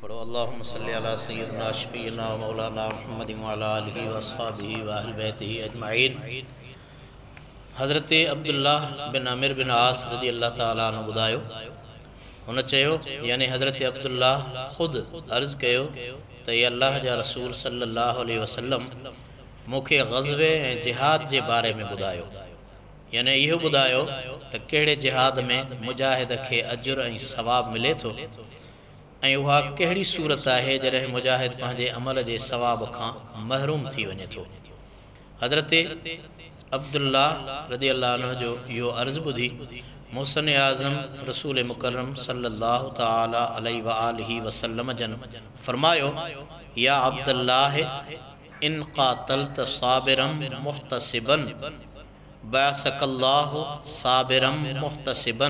پڙهو اللهم صل علي سيدنا شفيعنا ومولانا محمد وعلي آله واصحابه واهل بيته اجمعين حضرت عبدالله بن عمر بن عاص رضي الله تعاليٰ عنه ٻڌايو هن چيو يعني حضرت عبدالله خود عرض ڪيو ته اي الله جا رسول صلي الله عليه وسلم مون کي غزوي ۽ جهاد جي باري ۾ ٻڌايو يعني اهو ٻڌايو ته ڪهڙي جهاد ۾ مجاهد کي اجر ۽ ثواب ملي ٿو ۽ اها ڪهڙي صورت آهي جڏهن مجاهد پنهنجي عمل جي ثواب کان محروم ٿي وڃي ٿو. حضرت عبدالله رضي الله عنه جو اهو عرض ٻڌي محسن اعظم رسول مڪرم صلي الله تعالٰي عليه واٰله وسلم جن فرمايو، يا عبدالله ان قاتلت صابرا محتسبا بعثڪ الله صابرا محتسبا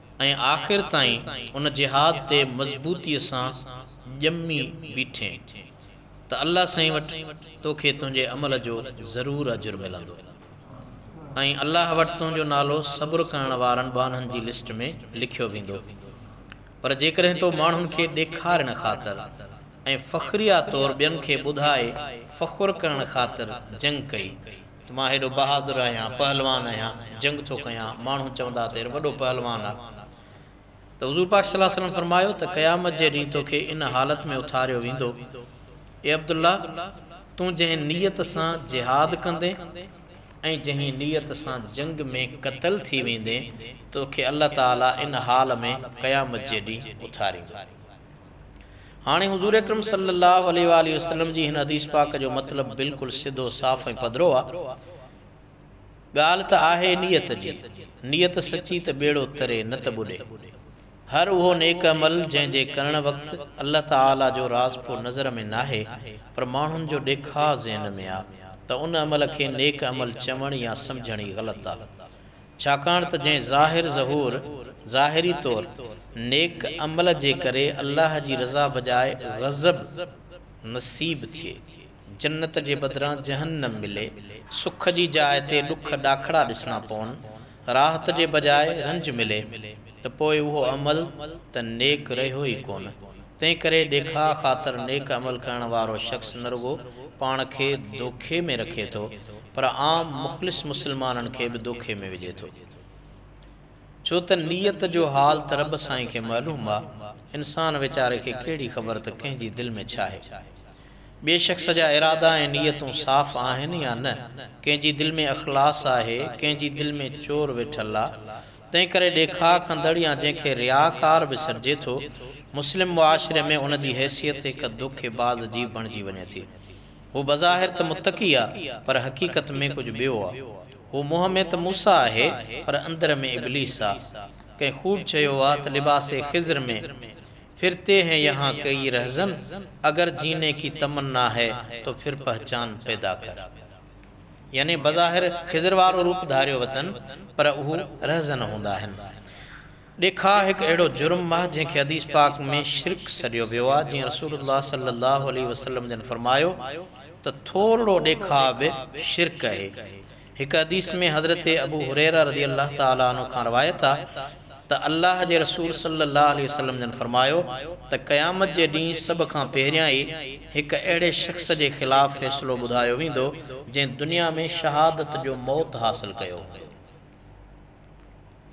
۽ آخر تائين ان جهاد تي مضبوطيء سان ڄمي بيٺين ته الله سائين وٽ توکي تنهنجي عمل جو ضرور اجر ملندو ۽ الله وٽ تنهنجو نالو صبر ڪرڻ وارن ٻانهن جي لسٽ ۾ لکيو ويندو پر جيڪڏهن تو ماڻهن کي ڏيکارڻ خاطر ۽ فخريا طور ٻين کي ٻڌائي فخر ڪرڻ خاطر جنگ ڪئي ته مان هيڏو بهادر آهيان، پهلوان آهيان، جنگ ٿو ڪيان، ماڻهو چوندا ته هي وڏو پهلوان آ. ته حضور پاڪ صلي الله عليه وسلم فرمايو ته قيامت جي ڏينهن تو کي ان حالت ۾ اٿاريو ويندو، اي عبدالله! تون جنهن نيت سان جهاد ڪندين ۽ جنهن نيت سان جنگ ۾ قتل ٿي ويندين، تو کي الله تعالي ان حال ۾ قيامت جي ڏينهن اٿاريندو. هاڻي حضور اڪرم صلي الله عليه واٰله وسلم جي هن حديث پاڪ جو مطلب بلڪل سڌو صاف ۽ پڌرو آ. ڳالهه ته آهي نيت جي. نيت سچي ته ٻيڙو تري نه ته ٻڏي. هر اهو نيڪ عمل جنهن جي ڪرڻ وقت الله تعاليٰ جو راض پو نظر ۾ ناهي پر ماڻهن جو ڏيکاء ذهن ۾ آ ته ان عمل کي نيڪ عمل چوڻ يا سمجهڻ ئي غلط آ. ڇاڪاڻ ته جنهن ظاهر ظهور، ظاهري طور، نيڪ عمل جي ڪري الله جي رضا بجاء غضب نصيب ٿئي، جنت جي بدران جهنم ملي، سک جي جاء تي ڏک ڏاکڙا ڏسڻا پون، راحت جي بجاء رنج ملي، ته پوء اهو عمل ته نيڪ رهيو ئي ڪونه. تنهنڪري ڏيکاء خاطر نيڪ عمل ڪرڻ وارو شخص نه رڳو پاڻ کي دوکي ۾ رکي ٿو پر عام مخلص مسلمانن کي به دوکي ۾ وجهي ٿو. ڇو ته نيت جو حال ته رب سائين کي معلوم آ. انسان ويچاري کي ڪهڙي خبر ته ڪنهن جي دل ۾ ڇاهي. ٻئي شخص جا ارادا ۽ نيتون صاف آهن يا نه، ڪنهن جي دل ۾ اخلاص آهي، ڪنهن جي دل ۾ چور ويٺل آ، تنهنڪري ڏيکاء ڪندڙ يا جنهن کي رياڪار به سڏجي ٿو، مسلم معاشري ۾ ان جي حيثيت هڪ دوکي باز جي بڻجي وڃي ٿي. هو بظاهر ته متقي آ، پر حقيقت ۾ ڪجهه ٻيو آ. هو منهن ۾ ته موسيٰ آهي، پر اندر ۾ ابليس آ. ڪنهن خوب چيو آ ته لباس خضر مين ڦرتي هين يهان ڪيئي رهزن، اگر جيني ڪي تمنا هي تو ڦر پهچان پيدا ڪر. يعني بظاهر خضر وارو روپ ڌاريو وتن پر اهو رهزن هوندا آهن. ڏيکاء هڪ اهڙو جرم آهي جنهن کي حديث پاڪ ۾ شرڪ سڏيو ويو آهي جيئن رسول الله صلي الله عليه وسلم جن فرمايو ته ٿورڙو ڏيکاء به شرڪ اهي. هڪ حديث ۾ حضرت ابو هريره رضي الله تعالٰي عنه کان روايت آهي. ته الله جي رسول صلّي اللّٰه عليه وسلّم جن فرمايو ته قيامت جي ڏينهن سڀ کان پهريان ئي هڪ اهڙي شخص جي خلاف فيصلو ٻڌايو ويندو جنهن دنيا ۾ شهادت جو موت حاصل ڪيو هوندو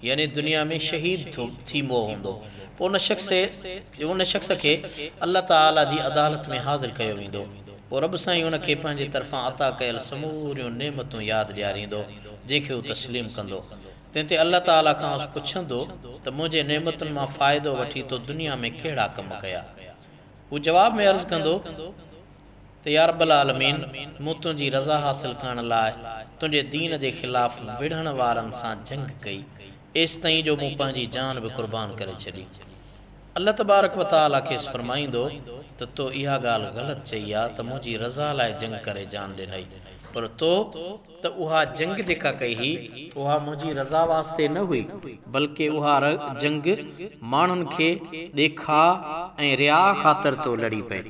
يعني دنيا ۾ شهيد ٿي مئو هوندو پوء ان شخص ان شخص کي الله تعالٰي جي عدالت ۾ حاضر ڪيو ويندو پوء رب سائين ان کي پنهنجي طرفان عطا ڪيل سموريون نعمتون ياد ڏياريندو جنهن کي هو تسليم ڪندو تنهن تي الله تعاليٰ کانئس پڇندو ته منهنجي نعمتن مان فائدو وٺي تو دنيا ۾ ڪهڙا ڪم ڪيا؟ هو جواب ۾ عرض ڪندو ته يارب العالمين! مون تنهنجي رضا حاصل ڪرڻ لاء تنهنجي دين جي خلاف وڙهڻ وارن سان جنگ ڪئي، ايستائين جو مون پنهنجي جان به قربان ڪري ڇڏي. الله تبارڪ وتعاليٰ کيس فرمائيندو ته تو اها ڳالهه غلط چئي آ ته منهنجي رضا لاء جنگ ڪري جان ڏنئي، پر تو ته اها جنگ جيڪا ڪئي هئي، اها منهنجي رضا واسطي نه هئي، بلڪ اها جنگ ماڻهن کي ڏيکاء ۽ رياء خاطر ٿو لڙي پئي.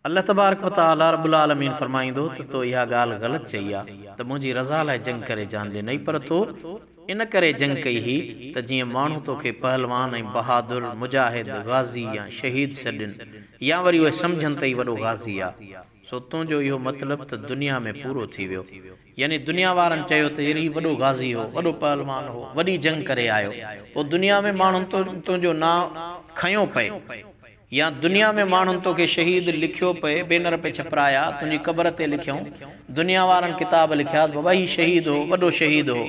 الله تبارڪ و تعاليٰ رب العالمين فرمائيندو ته تو اها ڳالهه غلط چئي آ ته منهنجي رضا لاء جنگ ڪري جان ڏنئي پر تو ان ڪري جنگ ڪئي هئي ته جيئن ماڻهو توکي پهلوان ۽ بهادر، مجاهد، غازي يا شهيد سڏين يا وري اهي سمجهن ته هي وڏو غازي آ. سو تنهنجو اهو مطلب ته دنيا ۾ پورو ٿي ويو. يعني دنيا وارن چيو ته ير هي وڏو غازي هو، وڏو پهلوان هو، وڏي جنگ ڪري آيو، پوء دنيا ۾ ماڻهن تنهنجو نانء کنيو پئي يا دنيا ۾ ماڻهن توکي شهيد لکيو پئي، بينر پئي ڇپرايا، تنهنجي قبر تي لکيائون، دنيا وارن ڪتاب لکيا ته بابا هي شهيد هو، وڏو شهيد هو،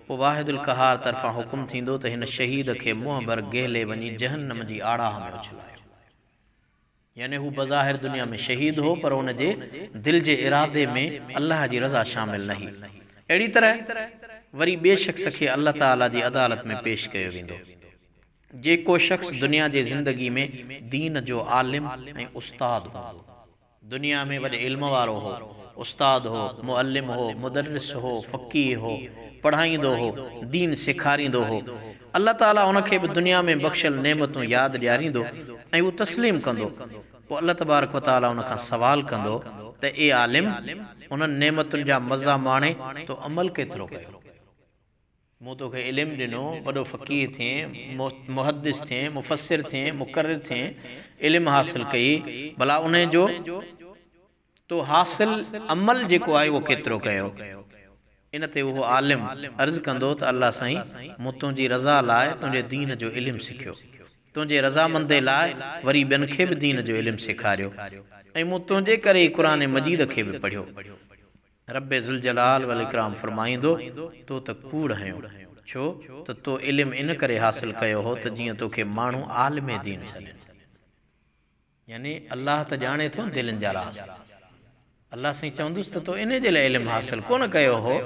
پوء واحد القهار طرفان حڪم ٿيندو ته هن شهيد کي منهن ڀر گهلي وڃي جهنم جي آڙاهه ۾ اڇلايو. يعني هو بظاهر دنيا ۾ شهيد هو پر ان جي دل جي ارادي ۾ الله جي رضا شامل نه هئي. اهڙي طرح وري ٻئي شخص کي الله تعالي جي عدالت ۾ پيش ڪيو ويندو. جيڪو شخص دنيا جي زندگي ۾ دين جو عالم ۽ استاد هوندو. دنيا ۾ وڏي علم وارو هو، استاد هو، معلم هو، مدرس هو، فقيه هو، پڙهائيندو هو، دين سيکاريندو هو، الله تعالي ان کي به دنيا ۾ بخشيل نعمتون ياد ڏياريندو ۽ هو تسليم ڪندو، پوء الله تبارڪ و تعالي ان کان سوال ڪندو ته اي عالم! انهن نعمتن جا مزا ماڻي تو عمل ڪيترو ڪيو؟ مون تو کي علم ڏنو، وڏو فقيه ٿئين، محدث ٿئين، مفسر ٿئين، مقرر ٿئين، علم حاصل ڪئي، ڀلا انهي جو. تو حاصل عمل جيڪو آهي اهو ڪيترو ڪيو؟ ان تي اهو عالم عرض ڪندو ته الله سائين مون تنهنجي رضا لاء تنهنجي دين جو علم سکيو، تنهنجي رضامندي لاء وري ٻين کي به دين جو علم سيکاريو ۽ مون تنهنجي ڪري ئي قرآن مجيد کي به پڙهيو. رب ذوالجلال والاڪرام فرمائيندو تو ته ڪوڙ هنيو، ڇو ته تو علم ان ڪري حاصل ڪيو هو ته جيئن توکي ماڻهو عالم دين سڏين. يعني الله ته ڄاڻي ٿو دلين جا راز. الله سائين چوندس ته تو انهي جي لاء علم حاصل ڪونه ڪيو هو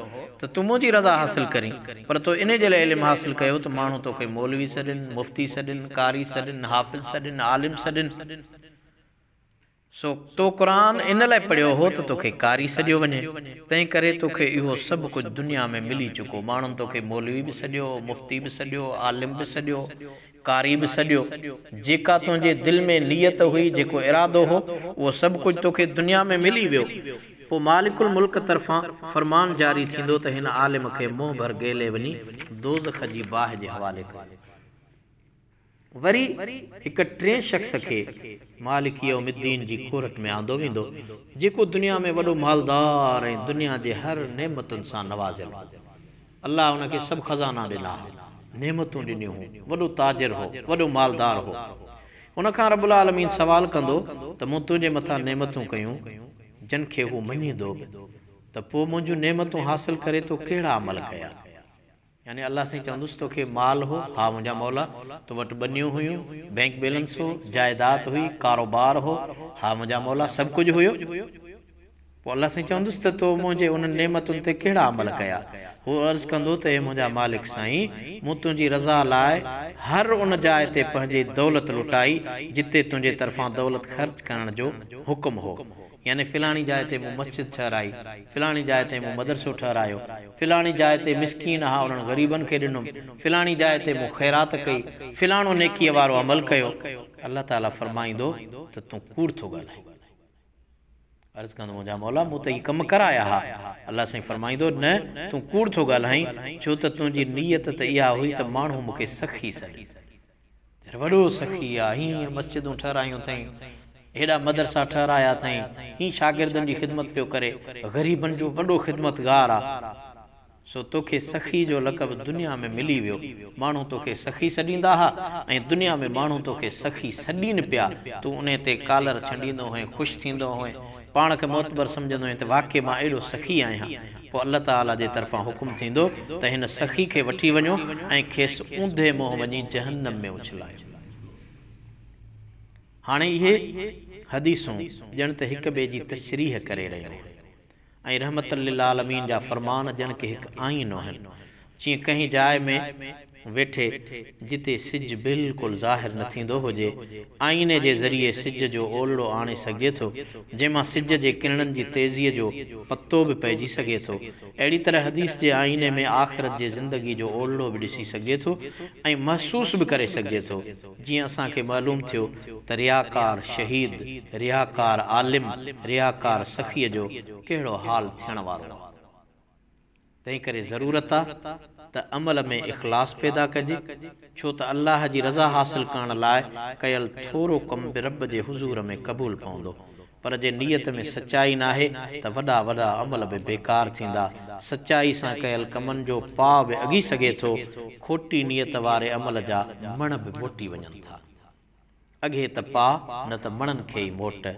ته تون منهنجي رضا حاصل ڪرين، پر تو انهي جي لاء علم حاصل ڪيو ته ماڻهو توکي مولوي سڏين، مفتي سڏين، قاري سڏين، حافظ سڏين، عالم سڏين. سو تو قرآن ان لاء پڙهيو هو ته توکي قاري سڏيو وڃي، تنهن ڪري توکي اهو سڀ ڪجهه دنيا ۾ ملي چڪو، ماڻهن توکي مولوي به سڏيو، مفتي به سڏيو، عالم به سڏيو، ڪاري به سڏيو، جيڪا تنهنجي دل ۾ نيت هئي، جيڪو ارادو هو، اهو سڀ ڪجهه توکي دنيا ۾ ملي ويو. پوء مالڪ الملڪ طرفان فرمان جاري ٿيندو ته هن عالم کي منهن ڀر گيلي وڃي دوزخ جي باهه جي حوالي ڪيو. وري هڪ ٽئين شخص کي مالڪ يوم الدين جي ڪورٽ ۾ آندو ويندو، جيڪو دنيا ۾ وڏو مالدار ۽ دنيا جي هر نعمتن سان نوازيل هو. الله ان کي سڀ خزانا ڏنا ها، نعمتون ڏنيون هون، وڏو تاجر هو، وڏو مالدار هو. ان کان رب العالمين سوال ڪندو ته مون تنهنجي مٿان نعمتون ڪيون، جن کي هو مڃيندو به، ته پوء منهنجون نعمتون حاصل ڪري تو ڪهڙا عمل ڪيا؟ يعني الله سائين چوندس تو کي مال هو، ها منهنجا مولا، تو وٽ ٻنيون هيون، بئنڪ بيلنس هو، جائداد هئي، ڪاروبار هو، ها منهنجا مولا، سڀ ڪجهه هيو. پوء الله سائين چوندس ته تو منهنجي انهن نعمتن تي ڪهڙا عمل ڪيا؟ هو عرض ڪندو ته اي منهنجا مالڪ سائين! مون تنهنجي رضا لاء هر ان جاء تي پنهنجي دولت لٽائي جتي تنهنجي طرفان دولت خرچ ڪرڻ جو حڪم هو. يعني فلاڻي جاء تي مون مسجد ٺهرائي، فلاڻي جاء تي مون مدرسو ٺهرايو، فلاڻي جاء تي مسڪين اها انهن غريبن کي ڏنم، فلاڻي جاء تي مون خيرات ڪئي، فلاڻو نيڪيء وارو عمل ڪيو. الله تعاليٰ فرمائيندو ته تون ڪوڙ ٿو ڳالهائين. عرض ڪندو منهنجا مولا مون ته هي ڪم ڪرايا ها. الله سائين فرمائيندو، نه تون ڪوڙ ٿو ڳالهائين، ڇو ته تنهنجي نيت ته اها هئي ته ماڻهو مون کي سخي سڏين. يار وڏو سخي آ، هيئن مسجدون ٺهرايون اٿئين، هيڏا مدرسا ٺهرايا اٿئين، هيئن شاگردن جي خدمت پيو ڪري، غريبن جو وڏو خدمتگار آ. سو توکي سخي جو لقب دنيا ۾ ملي ويو، ماڻهو توکي سخي سڏيندا ها ۽ دنيا ۾ ماڻهو توکي سخي سڏين پيا، تون انهي تي ڪالر ڇنڊيندو هئين، خوش ٿيندو هئين، پاڻ کي معتبر سمجهندو هئين ته واقعي مان اهڙو سخي آهيان، پوء الله تعاليٰ جي طرفان حڪم ٿيندو ته هن سخي کي وٺي وڃو ۽ کيس اونڌي منهن وڃي جهنم ۾ اڇلايو. هاڻي اهي حديثون ڄڻ ته هڪ ٻئي جي تشريح ڪري رهيون آهن. ۽ رحمة للعالمين جا فرمان ڄڻ ڪي هڪ آئينو آهن، جيئن ڪنهن جاء ۾ ويٺي جتي سج بلڪل ظاهر نه ٿيندو هجي، آئيني جي ذريعي سج جو اولڙو آڻي سگهجي ٿو، جنهن مان سج جي ڪرڻن جي تيزيء جو پتو به پئجي سگهي ٿو، اهڙي طرح حديث جي آئيني ۾ آخرت جي زندگي جو اولڙو به ڏسي سگهجي ٿو ۽ محسوس به ڪري سگهجي ٿو. جيئن اسان کي معلوم ٿيو ته رياڪار شهيد، رياڪار عالم، رياڪار سخيء جو ڪهڙو حال ٿيڻ وارو آ. تنهن ڪري ضرورت آ ته عمل ۾ اخلاص پيدا ڪجي، ڇو ته الله جي رضا حاصل ڪرڻ لاء ڪيل ٿورو ڪم به رب جي حضور ۾ قبول پوندو. پر جي نيت ۾ سچائي ناهي ته وڏا وڏا عمل به بيڪار ٿيندا. سچائي سان ڪيل ڪمن جو پاء به اگهي سگهي ٿو. کوٽي نيت واري عمل جا مڻ به موٽي وڃن ٿا. اگهي ته پاء نه ته مڻن کي ئي موٽ.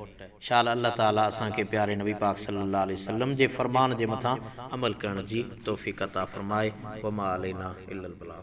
شال الله تعاليٰ اسان کي پياري نبي پاڪ صلي الله عليه وسلم جي فرمان جي مٿان عمل ڪرڻ جي توفيق عطا فرمائي. وما علينا الا البلاغ.